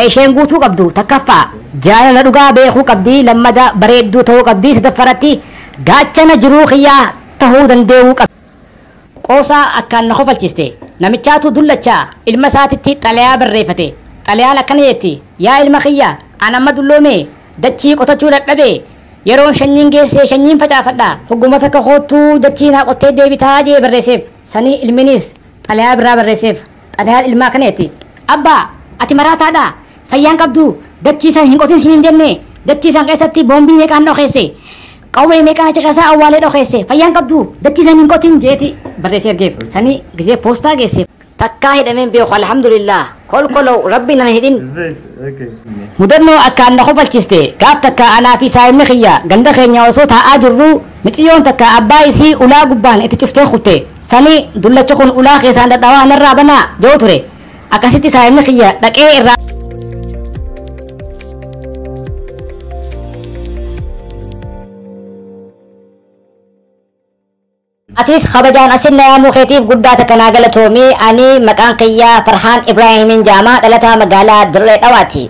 isheen guutuu qabdu takkaffaa jaalala dhugaa beekuu qabdi lammada bareedduu ta'uu qabdi sadaffaratti gaachana jiruu kiyyaa tahuu dandeewuu qabdi. Qoosaa akkaan na kofalchiste. Namichaatu dullacha ilma isaatitti xalayaa barreeffate. Xalayaan akkana jetti, Yaa ilma kiyya, an amma dulloome, dachii qotachuu dadhabe. Yeroon shanyiin geesse shanyiin facaafadha. Hogguma takka koottuu dachii naa qottee deebitaa jee barreesseef. Sanii ilminis xalayaa biraa barreesseef. Xalayaan ilmaa kaneeti. Abbaa! Ati maraataadhaa? Fayyaa hin qabduu? Dachii san hin qotin siniin jennee? Dachii san keessatti boombii meeqaan dhokeesse? Qawwee meeqaan achi keessaa awwaalee dhokeesse? Fayyaa hin qabduu? Dachii san hin qotin! jeeti barreessee ergeef. Sanii gizee poostaa geesse. Takkaa hidhamee hin beeku alhamdulillaah. Kolkolow Rabbiin nan hidhin. Mudannoo akkaan na kofalchiste gaaf takka anaa fi saahibni kiyya ganda keenya osoo taa'aa jirruu Miciyyoon takka abbaa isii ulaa gubbaan itti cuftee kutte. Sani dullachi kun ulaa keessaan dhadhawaa narraa banaa? ja'u ture. Akkasitti saahibni kiyya dhaqee irraa. Atis kabajaan asin na yaamuu keetiif guddaa takka naa galatoomi. Ani maqaan kiyya Farhaan Ibraahiimiin ja'ama. Dhalataa magaalaa Dirree Dhawaati.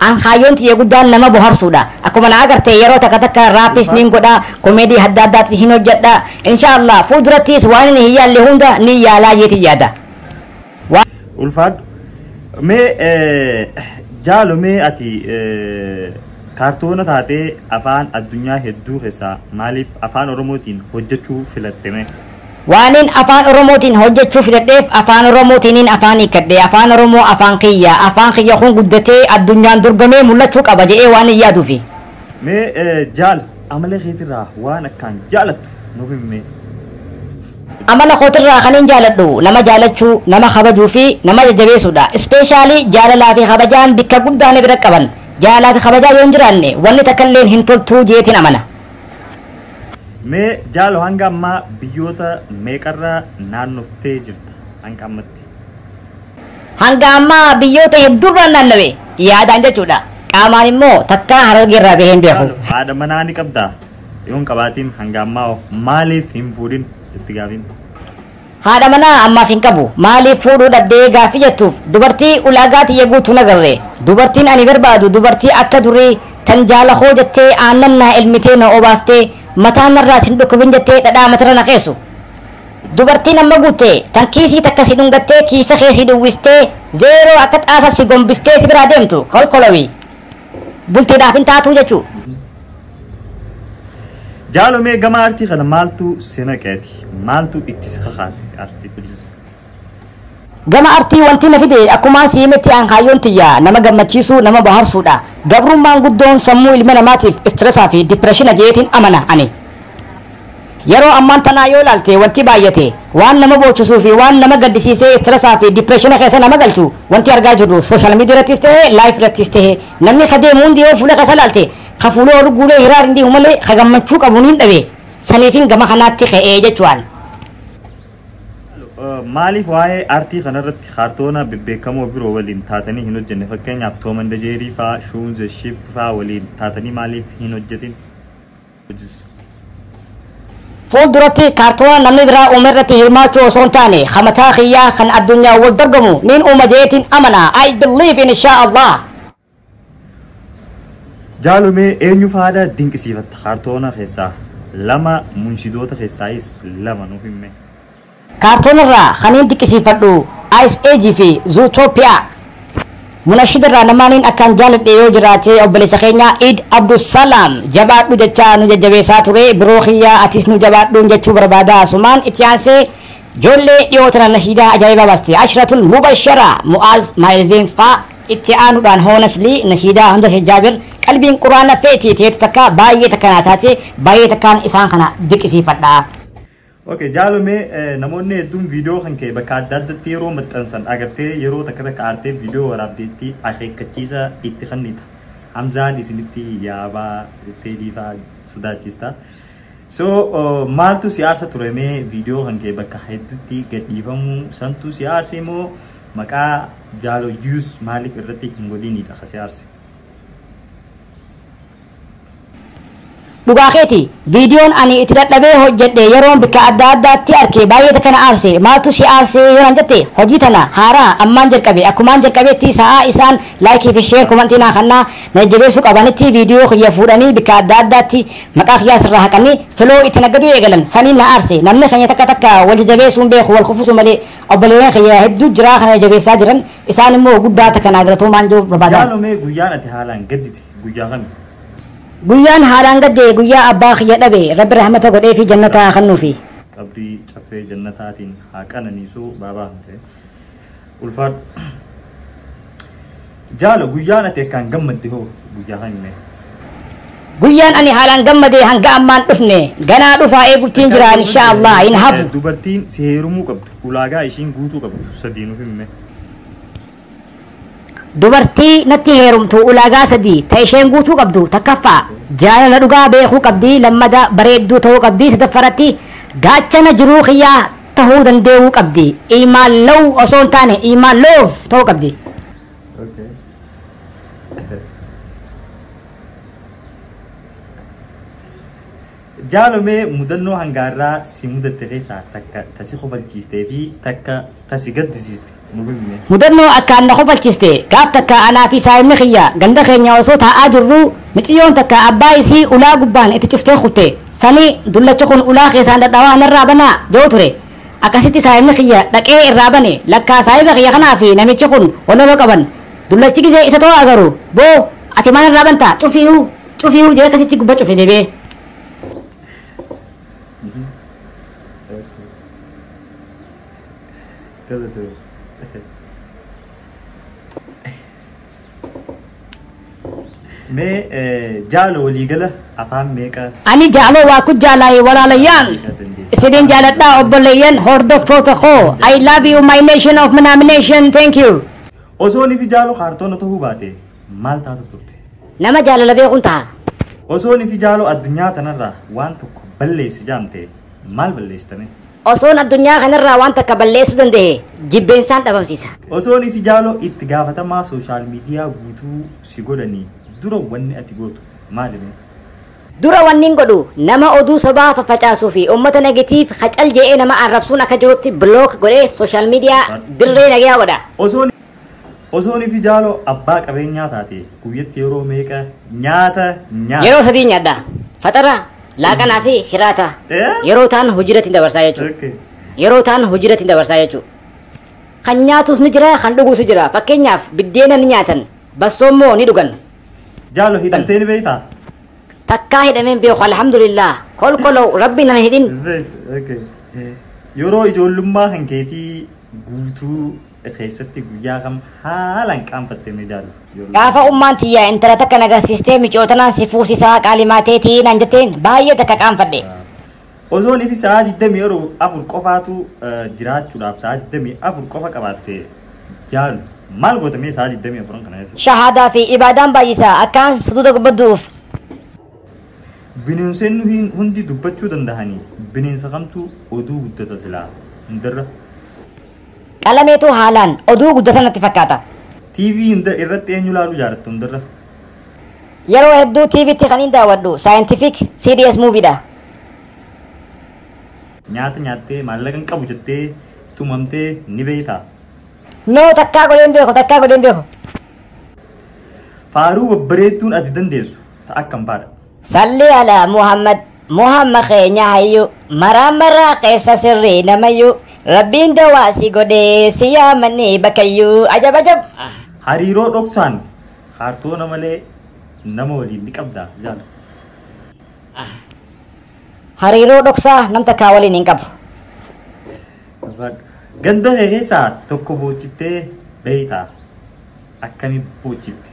An kaayyoon tiyya guddaan nama boharsuudha. Akkuma na agarte yeroo takka takka raappiis nin godha, komeedii hadda addaatis hin hojjadha. Inshaa Allaah fuuldurattiis waanini hin yaalle hunda nin yaalaa jeetin yaada. Wa. Ulfaadhu. Mee jaalo mee ati kaartoona taatee afaan addunyaa hedduu keessaa maaliif afaan oromootiin hojjechuu filatte mee? Waanin Afaan Oromootiin hojjechuu filadheef Afaan Oromootiinin afaan hiikkadhe. Afaan Oromoo afaan kiyya. Afaan kiyya kun guddatee addunyaan dorgomee mul'achuu qaba jedhee waanin yaaduufi. Mee eh, jaal amala keetirraa waan akkaan jaalattu nuuf himmee. Amala kootirraa kanin jaaladhu nama jaalachuu, nama kabajuu fi nama jajjabeessuudha. Ispeeshaalii jaalalaa fi kabajaan bakka guddaa na bira qaban. Jaalalaa fi kabajaa yoo hin jiraanne wanni takkalleen hin toltuu jeetiin amana. Mee jaalo hanga ammaa biyyoota meeqarra naannoftee jirta hanga ammatti? Hanga ammaa biyyoota hedduurra naannawe yaadaan jechuudha. Qaamaan immoo takkaa harargeerraa bahee hin beeku. Jaalo haadha manaa ni qabdaa? Yoon qabaatiin hanga ammaa hoo maaliif hin fuudhin itti gaafiin? Haadha manaa ammaaf hin qabu. Maaliif fuudhuu dhabdee gaaffii jettuuf dubartii ulaagaa tiyya guutu hin agarre. Dubartiin ani barbaadu dubartii akka durii tan jaala koo jettee aannan naa elmitee na obaaftee mataan narraa sin dhukkubin jettee dhadhaa matarra na keessu. Dubartii namma guutte tan kiisii takka si dhungattee kiisa kee sii duwwistee zeeroo akka xaasa si gombistee si biraa deemtu kolkolowii. Bultiidhaaf hin taatuu jechuu. Jaalo mee gama artii kana maaltu si naqeeti? Maaltu itti si kakaase artii please? Gama artii wanti na fide akkumaan si himetti an kaayyoon tiyya nama gammachiisuu, nama bohaarsuudha. Gabrummaan guddoon sammuu ilma namaatiif stress fi depression je'eetiin amana ani. Yeroo ammaan tanaa yoo ilaalte wanti baay'ate, waan nama boochisuu fi waan nama gaddisiisee stress fi depression keessa nama galchu wanti argaa jirru social media irrattis ta'e live irrattis ta'e namni ka deemu hundi yoo fuula keessa ilaalte Ka fuula ol guulee hiraar hin deemu malee ka gammachuu qabu niin dhabe, saniifin gama kanaatti ka'e jechu'aan. Maaliif waa'ee aartii kanarratti kaartoona bebbeekamoo biroo waliin taatanii hin hojjenne? Fakkeenyaaf Tom and Jerry faa, Shoon the Sheep faa waliin taatanii maaliif hin hojjetin? Hojis. Fuulduratti kaartoona namni biraa uume irratti hirmaachuu osoo hin taane, ka mataa kiyyaa kan addunyaan wal dorgomu niin uuma je'eetiin amana. I believe in shaa Allah. Jaalomee eenyu faada dinqisiifatta kaartoona keessaa lama munshidoota keessaayis lama nuuf himme. Kaartoonarraa kaniin diqqisiifadhu Ice Age fi Zootopia. Munashidarraa namaaniin akkaan jaaladhe yoo jiraate obboleessa keenya Iid Abdusalaam jabaadhu jechaa nu jajjabeessaa ture biroo kiyya atis nu jabaadhuun jechuu barbaada asumaan itti aansee Ijoollee dhiyoo tana nashiidaa ajaa'ibaa baaste. Ashratul Mubashara, Mu'aaz, Maahir Zeen faa. Itti aanuudhaan hoo Naslii, nashiidaa Hamza Sheikh Jaabir, Qalbiin Qur'aana feeti teetu takka baay'ee takka naa taate, baay'ee takkaan isaan kana diqisiifadha. Ok jaalo mee namoonni hedduun viidiyoo kan kee bakka adda addatti yeroo maxxansan agartee yeroo takka takka aartee viidiyoo waraabdeetti akeekkachiisa itti kennita. Hamzaan isinitti yaabaa jettee dhiifaa sodaachista. So maaltu si aarsa ture mee viidiyoo kan kee bakka hedduutti gadhiifamuu santu si aarse moo maqaa jaalo juus maaliif irratti hin godhiniidha ka si aarse. Dhugaa keeti viidiyoon ani itti dadhabee hojjedhe yeroon bikka adda addaatti arke baay'ee takka na aarse maaltu si aarse yoo nan jette hojii tana haaraa ammaan jalqabe akkumaan jalqabeetti sa'aa isaan laayikii fi sheer komantii naa kannaa na jajjabeessuu qabanitti viidiyoo kiyya fuudhanii bikka adda addaatti Maqaa kiyyaa sirraa haqanii filoo itti naggaduu eegalan saniin na aarse. Namni keenya takka takka wal jajabeessuu hin beeku wal kufusuu malee. Obboleeyyan kiyya hedduu jiraa kana na jabeessaa jiran isaan immoo guddaa takka naa galatoomaan jechuu barbaada. Jaalo mee guyyaan ati haalaan gaddite guyyaa kami? Guyyaan haalaan gadde guyyaa abbaa kiyya dhabe rabbi rahmata godhee fi jannataa haa kennuufi. Qabrii caffee jannataatiin haa qananiisu baabaa hafee. Ulfaadhu. Jaalo guyyaan ati akkaan gammadde hoo guyyaa kan himee. Guyyaan ani haalaan gammadee hanga ammaan dhufne ganaa dhufaa eeguttiin jira insha Allah hin hafu. Dubartiin si heerumuu qabdu ulaagaa ishiin guutuu qabdu sadii nuuf himme. Dubartii natti heerumtu ulaagaa sadii ta isheen guutuu qabdu takkaffaa jaalala dhugaa beekuu qabdi lammada bareedduu ta'uu qabdi sadaffaratti gaachana jiruu kiyyaa tahuu dandee'uu qabdi iimaan law osoo hin taane iimaan love ta'uu qabdi. Okay. Jaalo mee mudannoo hanga har'aa si mudatte keessaa takka ta si kofalchiistee fi takka ta si gaddisiiste nuuf himi mee. Mudannoo akkaan na kofalchiste gaaf takka anaa fi saahibni kiyya ganda keenya osoo taa'aa jirruu miciyyoon takka abbaa isii ulaa gubbaan itti cuftee kufte sani dullachi kun ulaa keessaan dhadhawaa narraa banaa ja'u ture akkasitti saahibni kiyya dhaqee irraa bane lakkaa saahiba kiyya kanaa fi namichi kun walaloo qaban dullachi gizee isa too agaru boo ati maa narraa banta cufiihu Cufii huu jee kasitti gubba cufe debee. Kasa ture. Mee eh, jaala waliigala afaan meeqa Ani jaaloo waa ku jaalaayee walaalayyaan. Isidin jaaladhaa obboleeyyan hordoftoota koo. I love you my nation of nomination. Thank you. osoo nifi jaalu kaartoona ta'uu baate maal taatu turte? Nama jaalala beekuun taha. Osoo nifi jaaloo addunyaa tanarraa waan tokko balleessi jaamte maal balleessitame? Osoon addunyaa kanarraa waan takka balleessuu danda'e jibbeensaan dhabamsiisa. Osoo nifi jaaloo itti gaafatamaa sooshaal miidiyaa guutuu si godhanii dura wanni ati gootu maalime? Dura wanniin godhu nama oduu sobaa faffacaasuu fi uummata negatiif hacal je'ee nama arrabsuun akka jirutti block godhee sooshaal miidiyaa dirree nagayaa godha. Osoo Osoo nifi jaalo abbaa qabeenyaa taate guyyatti yeroo meeqa nyaata nyaata? Yeroo sadii nyaadha. Faxara, laaqanaa fi hiraata. Eh? Yeroo taan hojiirratti hin dabarsaa jechuudha. Okay. Yeroo taan hojiirratti hin dabarsaa jechuudha. Kan nyaatus ni jira, kan dhugus ni jira. Fakkeenyaaf biddeena ni nyaatan, bassoo immoo ni dhugan. Jaalo hidhamtee ni beektaa? Takkaa hidhameen beeku alhamdulillah. Kolkoloo rabbiin nan hidhin. Beektu, okay. Yeroo ijoollummaa kan keetii guutuu keessatti guyyaa kam haalaan qaanfatte mee daali. Gaafa ummaan tiyya intala takka na garsiistee miciyoo tanaan si fuusisaa qaalimaa teetii naan jetteen baay'ee takka qaanfadhe. Osoo nifi sa'aa 24 qofaatu jiraachuudhaaf sa'aa 24 qofa qabaatte jaalu maal goota mee sa'aa 24 kana keessa? Shahaadaa fi ibaadaan baay'isa akkaan suduuda gubbaddu'uuf. Bineensonni nuhiin hundi dubbachuu dandahanii bineensa kamtu oduu guddata silaa hundarra. Qalameetu haalaan oduu guddatan natti fakkaata. TV hunda irratti eenyu ilaaluu jaalattu hundarra? Yeroo hedduu TV tti kaniin daawwadhu Scientific CDS Movie dha. Nyaata nyaattee maallaqa hin qabu jettee tumamtee ni beektaa? No takkaa godhee hin beeku takkaa godhee hin beeku. Faaruu babbareedduun ati dandeessu ta akkam faadha? Sallii alaa Muhammad Muhamma keenya hayyu maraa maraa keessa sirrii namayyu Rabbiin dawaa si godhee si yaamanni bakayyu ajab ajab. Hariiroo dhoksaan kaartoona malee nama waliin ni qabdaa jaal? Hariiroo dhoksaa nam takkaa waliin hin qabu. Ganda kee keessaa tokko boochiftee beeytaa? Akkami boochifte?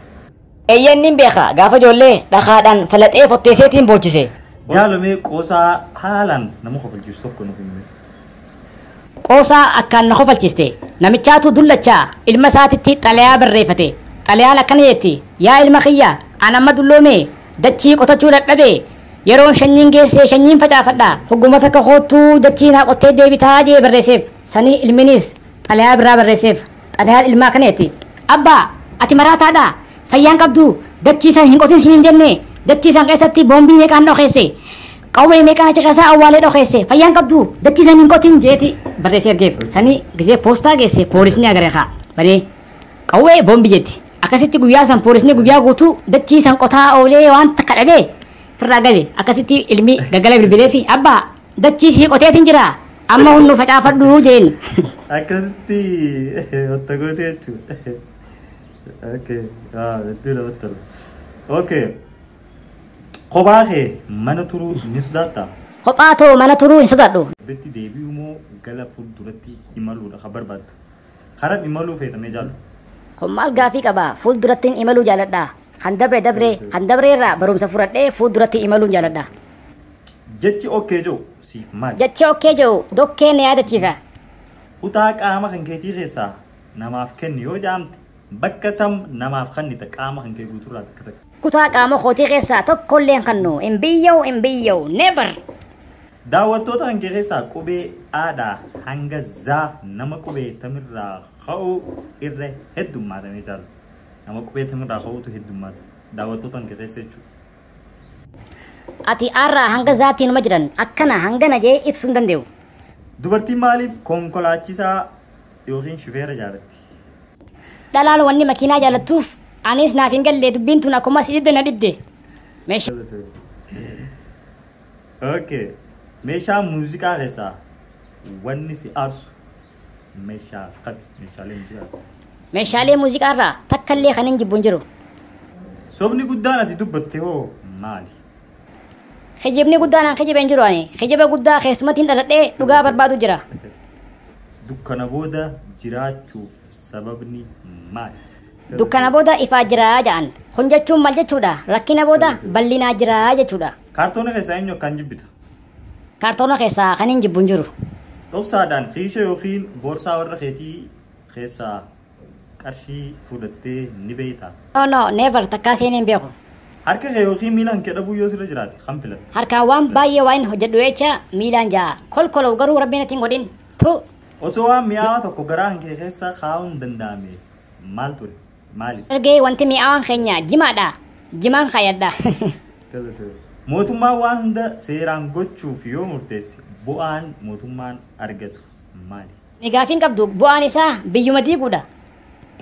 Eeyyeen nin beeka gaafa ijoollee dhakaadhaan falaxee fotteesseetiin boochise. Jaalo mee qoosaa haalaan nama kofalchiisu tokko nuuf himi. Qoosaa akkaan na kofalchiste. Namichaatu dullacha ilma isaatitti xalayaa barreeffate. Xalayaan akkana jetti, Yaa ilma kiyya, an amma dulloomee dachii qotachuu dadhabee yeroon shanyiin geesse shanyiin facaafadha. Hogguma takka koottuu dachii naa qottee deebitaa jee barreesseef. Sanii ilminis Xalayaa birraa barreesseef. Xalayaan ilmaa akkana jetti. Abbaa! Ati maraataa dha. Fayyaa hin qabdu. Dachii san hin qotin siniin jenne. Dachii san keessatti boombii meeqaan dhokeesse. Qawwee meeqaan achi keessaa awwaalee dhokeesse. Fayyaa hin qabdu. Dachii san hin qotin jeeti barreessee ergeef. Sanii gisee poostaa geesse poolisni agaree kaa. Banee qawwee boombii jetti. Akkasitti guyyaa san poolisni guyyaa guutuu dachii san qotaa oolee waan takka dhabee firraa gale. Akkasitti ilmi gaggala bilbilee fi abbaa Dachii sii qoteetin jira amma hunnu facaafadhu jeen. Akkasitti otta goote jechuudha. Okay. Ah, hedduu namatti tola. Okay. Kophaa kee mana turuu ni sodaattaa? Kophaa too mana turuu hin sodaadhu. Bitti deebi'uu moo gara fuulduratti imaluudha kan barbaaddu? Karaa imaluu feetamee jaallu. Kun maal gaafii qaba fuuldurattiin imaluu jaaladha. Kan dabre dabre kan dabre irraa barumsa fudhadhee fuulduratti imaluun jaaladha. Jechi okkee jedhu siif maali? Jechi okkee jedhu dokkee na yaadachiisa. Kutaa qaama kan keetii keessaa namaaf kenni yoo jedhamte bakka tam namaaf kennita qaama kan kee guuturraa takka takka. Kutaa qaama kootii keessaa tokkollee hin kennu. Hin biyya'u, hin biyya'u. Never! Daawwattoota kan kee keessaa qubee aadhaa hanga zaa nama qubee tamirraa ka'u irra heddummaata mee jaalla. Nama qubee tamirraa ka'utu heddummaata. Daawwattoota kan kee keessa jechuudha. Ati arraa hanga zaatii numa jiran akkana hangana jee ibsuu hin dandeewu. Dubartiin maaliif konkolaachisaa yookiin shufeera jaalatti? Dhalaan wanni makiinaa jaalattuuf anis naaf hin galle dubbiin tun akkuma si dhibde na dhibde. Meeshaa Okay. Meeshaa muuziqaa keessaa wanni si aarsu Meeshaa akkami? Meeshaalee muuziqaa. Meeshaalee muuziqaa irraa takka illee kan hin jibbu hin jiru. Sobni guddaan ati dubbatte hoo maali? Kijibni guddaan an kijibe hin jiru ani. Kijiba guddaa keessumatti hin dhaladhee dhugaa barbaadu jira. Dukkana booda jiraachuuf sababni maali? Dukkana booda ifaa jiraa ja'an. Kun jechuun maal jechuudha? Rakkina booda bal'inaa jiraa jechuudha. Kaartoona keessaa eenyu akkaan jibbita? Kaartoona keessaa kaniin jibbu hin jiru. Dhoksaadhaan kiishee yookiin boorsaa warra keetii keessaa qarshii fuudhattee ni beektaa? No, no, never, takkaa seenee hin beeku. Harka kee yookiin miila kan kee dhabuu yoo sirra jiraate kam filatta? Harkaan waan baay'ee waan hin hojjedhu jecha miilaan ja'a. Kolkolow garuu rabbiin natti hin godhin. Tuu! Osoo waan mi'aawaa tokko garaa kan kee keessa kaa'uun danda'amee maal ture? Maali? Ergi wanti mi'aawaan keenya jimaadha. Jimaan kaayadha. Tole tole. Mootummaan waan hunda seeraan gochuuf yoo murteesse bu'aan mootummaan argatu maali? Ani gaafii hin qabdu. Bu'aan isaa biyyuma diiguudha.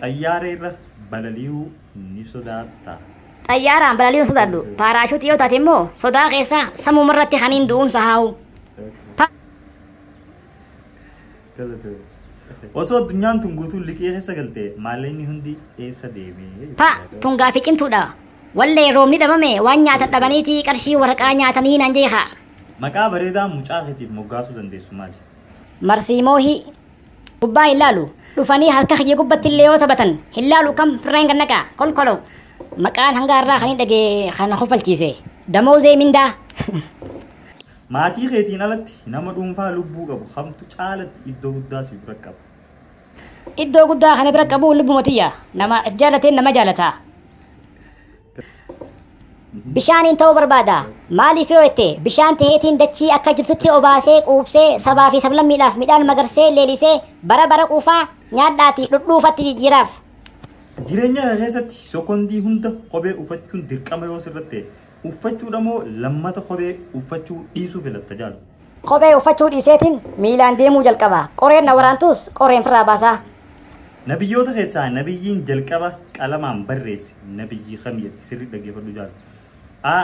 Xayyaara irra balali'uu ni sodaattaa? Xayyaaraan balali'uu hin sodaadhu. Paaraashuutii yoo taate immoo sodaa keessaa sammumarratti kaniin du'umsa haawu. Okay. Galatoomi. Osoo addunyaan tun guutuun liqii keessa galte maallaqni hundi eessa deemee? Pa! Tun gaafii cimtuudha. Wallee roobni dhabame waan nyaatan dhabaniiti qarshii waraqaa nyaatanii naan jee kaa. Maqaa bareedaa mucaa keetiif moggaasuu dandeessu maali? Marsii moohii. Gubbaa hin laalu. Dhufanii harka kiyya gubbatti illee yoo taphatan hin laalu kam firraa hin gannaqa. Kolkolo. Maqaan hanga har'aa kan hin dhagee kan na kofalchiise. Damoozee mindaa. Maatii keetiin alatti nama dhuunfaa lubbuu qabu kamtu caalatti iddoo guddaa si bira qaba? Iddoo guddaa kana bira qabu lubbuma tiyya. Nama if jaalateen nama jaalata. Bishaaniin ta'uu barbaada. Maaliif yoo jette bishaan taheetiin dachii akka jirtutti obaasee quubsee sabaa fi sablammiidhaaf midhaan magarsee leelisee bara bara quufaa nyaadhaati dhudhuufatti jijjiiraaf. Jireenya kee keessatti sokondii hunda kophee ufachuun dirqama yoo sirratti ta'e uffachuudha moo lammata kophee uffachuu dhiisuu filatta jaal? Kophee uffachuu dhiiseetiin miilaan deemuu jalqaba. Qoreen na waraantuus qoreen firraa baasaa. Nabiyyoota keessaa nabiyyiin jalqaba qalamaan barreesse nabiyyii kami jetti? Sirrii dhaggeeffadhu jaal. A.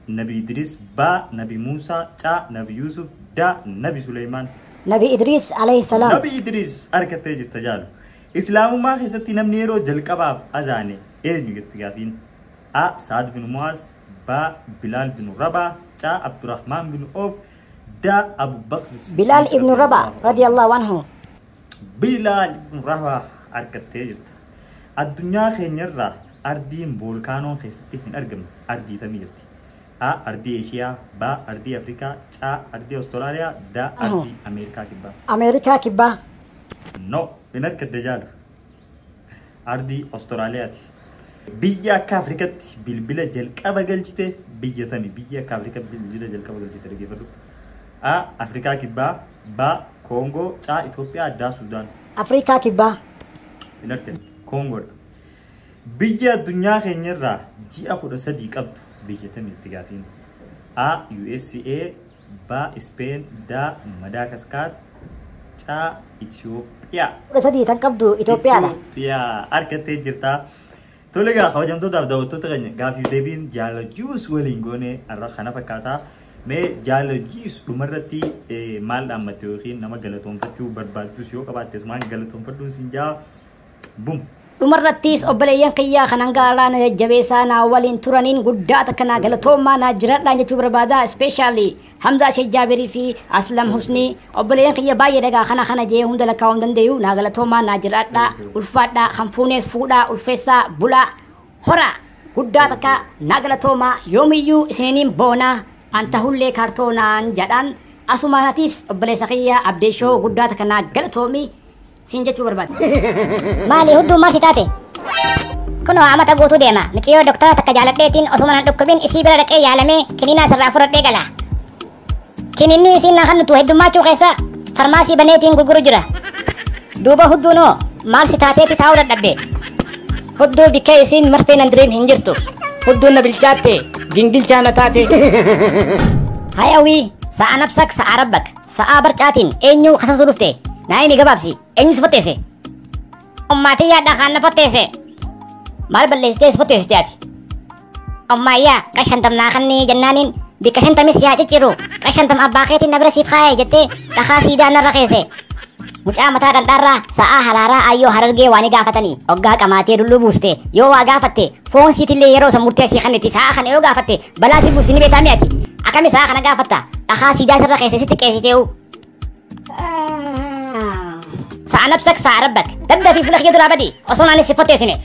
Nabi Idriis B. Nabi Muusaa C. Nabi Yuusuf D. Nabi Suleymaan. Nabi Idriis alayhi salaam. Nabi Idriis arkattee jirta jaal. Islaamummaa keessatti namni yeroo jalqabaaf azaane eenyu jetti gaafiin? a. Sa'ad binu Mu'aaz b. Bilaal binu Rabah c. Abdurahmaan binu Awf d. Abu Bakr Siddiiq Bilaal ibnu Rabah radiyallahu anhu radiyallahu anhu. Bilaal ibnu Rabah argattee jirta. Addunyaa keenya irra ardiin voolkaanoon keessatti hin argamne ardii tamii jirti? a. Ardii Eeshiyaa b. Ardii Afrikaa c. Ardii Awustiraaliyaa d. Anhu. Ardii Ameerikaa Kibbaa Ameerikaa Kibbaa No, hin argadde jaalu. Ardii Awustiraaliyaati. Biyya akka Afrikatti bilbila jalqaba galchite biyya tami? Biyya akka Afrikatti bilbila jalqaba galchite dhaggeeffadhu. A. Afrikaa Kibbaa B. Koongoo C. Itoophiyaa D. Suudaan. Afrikaa Kibbaa. Hin argine. Koongoodha. Biyya addunyaa keenyarraa ji'a kudha sadii qabdu biyya tami itti gaafiin? A. USA B. Ispeen D. Madaakaskaar C. Itoophiyaa. 13 tan qabdu Itoophiyaadha. Itoophiyaa argattee jirta. Tole egaa kabajamtootaaf daawwattoota keenya gaafiif deebiin jaala juus waliin goone har'a kana fakkaata. Mee jaala juus dhumarratti eh, maal dhaammatte yookiin nama galatoomfachuu barbaaddus yoo qabaattes maal galatoomfadhuun siin jaa Bum. Dhumarrattiis obboleeyyan kiyyaa kan hanga alaa na jajjabeessaa naa waliin turaniin guddaa takka naa galatoommaa naa jiradhaan jechuu barbaada especially Hamzaa Sheikh Jaabirii fi Aslam Husnii obboleeyyan kiyya baay'ee dhagaa kana kana jee hunda lakkaa'uu hin dandeeyu naa galatoomaa naa jiradhaa ulfaadhaa kan fuunees fuudhaa ulfeessaa bulaa horaa guddaa takka naa galatoomaa yoomiyyuu isininiin boonaa an tahullee kaartoonaan jadhaan asumaanatiis obboleessa kiyya abdeeshoo guddaa takka naa galatoomii siin jechuu barbaade. Maali hudduu maal si taate? Kunoo amata guutuu deema. Miciyoo doktara takka jaaladheetiin osuma nan dhukkubin isii bira dhaqee yaalamee kiniinaa sirraa fudhadhee gala. Kiniinni isiin na hannutu heddummaachuu keessa farmaasii baneetiin gurguru jira. Duuba hudduunoo maal si taateeti taa'uu dadhabde? Hudduu bikkee isiin marfee nan diriin hin jirtu. Hudduun na bilchaatte gingilchaa na taate. Hayawii sa'a nafsak sa'a rabbak. Sa'aa barcaatiin eenyu kasasuu dhufte? Naa himi gabaabsi. Eenyu si fotteesse? Ummaatii yaadhaa kaan na fotteesse. Maal balleessitee si fotteessite ati? Ummaayyaa qash hantam naa kannii jennaaniin bikka shantamis yaa cicciru qash hantam abbaa keetiin na bira siif kaa'e jettee dhakaa siidaa narra keesse. Mucaa mataa dhandhaarraa sa'aa haraaraa ayyoo harargee waan gaafatanii oggaa qamaatee dulluu buuste yoo waa gaafatte foon siitillee yeroo san murteessii kannitti sa'aa kana yoo gaafatte Balaa si buusi ni beektaa mi ati? Akkami sa'a kana gaafatta? Dhakaa siidaa sirra keessa sitti qeesitee'u. Sa'a nabsak sa'a rabbak. Dadda fi fuula kiyya duraa badi. Osoo naanis si fotteessine.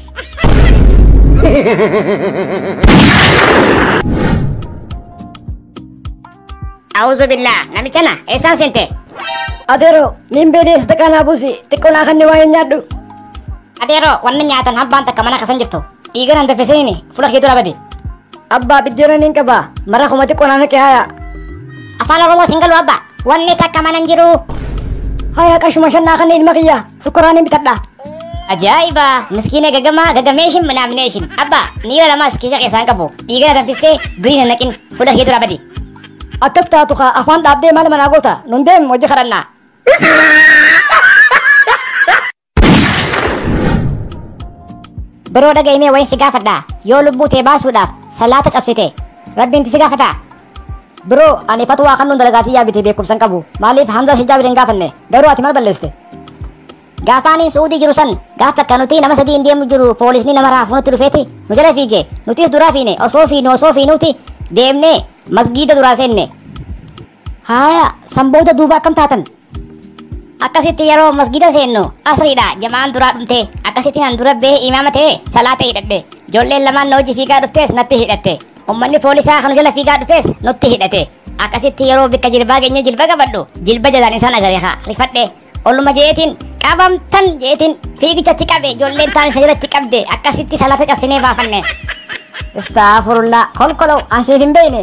A'uuzu billaa namichana eessaan seente? Adeero niin beedee sadaqaa naa buusi xiqqoo naa kanni waa hin nyaadhu. Adeero wanni nyaatan habbaan takka mana kasan jirtu dhiiga nan daffisini fula kee dura badi. Abbaa biddeena niin qaba mara kuma xiqqoo naa naqe haya. Afaan Oromoo sin galu abba wanni takka mana hin jiru. Haya qashuma shan naa kanni ilma kiyya. Sukkuraan hin bitadha. Ajaa'iba! Miskiina gagamaa gagameeshin minaamineeshin. Abba, niira lamaas kiisha keessaan qabu. Dhiigana danfistee durii hin naqin. Fuula kee dura badi. Akkas taatu kaa afaan dhaabdee maal manaa goota? Nun deem hojii kadhannaa. Biroo dhaga'imee wayin si gaafadha. Yoo lubbuu tee baasuudhaaf salaata cabsite. Rabbiin si gaafataa? Bro ani fatwaa kannuun dalagaa tiyyaa bitee beekumsan qabu maaliif Hamza Shijaa biteen gaafanne garuu ati mal balleeste. Gaafaaniin Suudii jiru san gaaf takka nuti nama sadii hin deemu jiru poolisni nama raafu nutti dhufeeti nu jala fiige nutis duraa fiine osoo fiinu osoo fiinuuti deemnee masgiida duraa seenne. Haaya san booda duuba akkam taatan? akkasitti yeroo masgida seennu asriidha jamaan duraa dhumte akkasitti nan dura bee imaama ta'e salaata hidhadhe ijoolleen lamaan na hojii fiigaa dhuftees natti hidhatte ummanni poolisaa kan jala fiigaa dhufees nutti hidhate akkasitti yeroo bikka jilbaa geenye jilba qabadhu jilba jalaan isaan agareekaa rifadhe olluma jeetiin qabamtan jeetiin fiigichatti qabe ijoolleen taan isa jalatti qabde akkasitti salaata cabsinee baafanne istaafurullaa kolkolow ansiif hin beeyne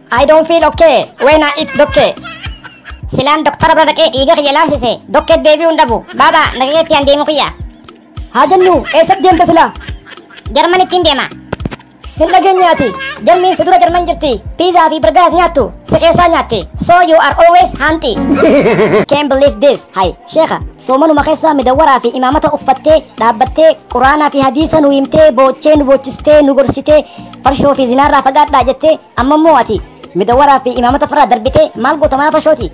I don't feel okay when I eat dokke. Silaan doktara bira dhaqee dhiiga kiyya laansise dokkee deebi'uu hin dhabu. Baaba nagageetti aan deemu kiyya. Haa jennu eessatti deemta silaa? Jarman ittiin deema. Hin dhageenyaati. Jarmiin si dura jarman jirti. Piizaa fi birgaas nyaattu. Si keessaa nyaatti. So you are always hanti. Can't believe this. Hai, sheekha. Soomanuma keessaa midawwaraa fi imaamata uffattee, dhaabbattee, quraanaa fi hadiisa nu himtee, boochee, nu boochistee, nu gorsitee, farshoo fi zinaarraa fagaadhaa jettee, Amma immoo ati midawaraa fi imaamota firraa darbitee maal goota mana fashooti?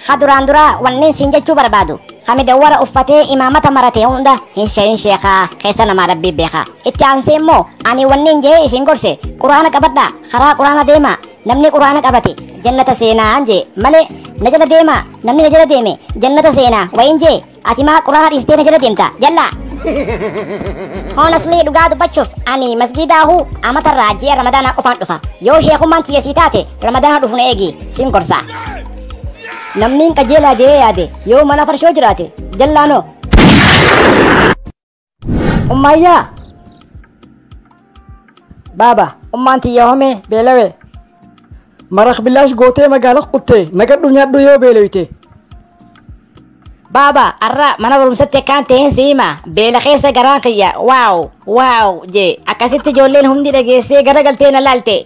Ha duraan duraa wanneen siin jechuu barbaadu. Ha midawara uffatee imaamata maratee hunda hin sheeyin sheekaa keessa namaa rabbii beekaa. Itti aansee immoo ani wanneen jee isin gorse quraana qabadhaa karaa quraana deemaa namni quraana qabate jannata seenaa jee malee na jala deemaa namni na jala deeme jannata seenaa wayin jee Ati maa quraana dhiistee na jala deemta jallaa. Honestly dhugaa dubbachuuf ani masgiidaa huu amatarraa ji'a ramadaanaa qofaan dhufa. Yoo sheekummaan tiyya sii taate ramadaanaa dhufu na eegi siin gorsa. Namni hin qajeelaa jee yaade yoo mana farshoo jiraate jallaanoo. Ummaayyaa! Baaba, ummaan tiyya homee beelawee. Marak bilaash gootee magaala quttee nagadhu nyaadhu yoo beelawite. Baaba, arra mana barumsatti akkaan ta'een si hima. Beela keessa garaan kiyya. Waaw! Waaw! jee. Akkasitti ijoolleen hundi dhageessee gara galtee na laalte.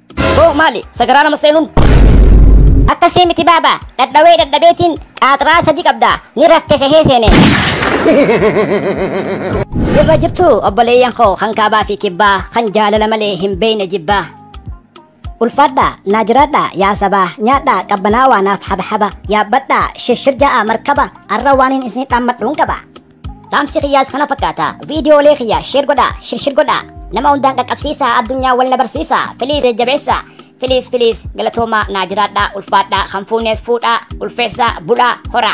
Boo maali sagaraa nama seenuun? Akkasii miti baaba dhadhawee dhadhabeetiin qaaxraa sadi qabda ni rafte sehee seene. Jirra jirtu obboleeyyan koo kan kaabaa fi kibbaa kan jaalala malee hin beeyne jibbaa. Ulfaadhaa naa jiraadhaa yaa sabaa nyaadhaa qabbanaawaa naaf habahaba yaabbadhaa shirshir ja'a markaba arra waaniin isin dhammadhuun qaba. Dhaamsi kiyyaas kana fakkaata. Viidiyoolee kiyya sheer godhaa, shirshir godhaa. Nama hundaan qaqqabsiisaa, addunyaa wal na barsiisaa. Filiis jajjabeessaa. Filiis filiis galatoomaa naa jiraadhaa, ulfaadhaa, kan fuunees fuudhaa, ulfeessaa, bulaa, horaa.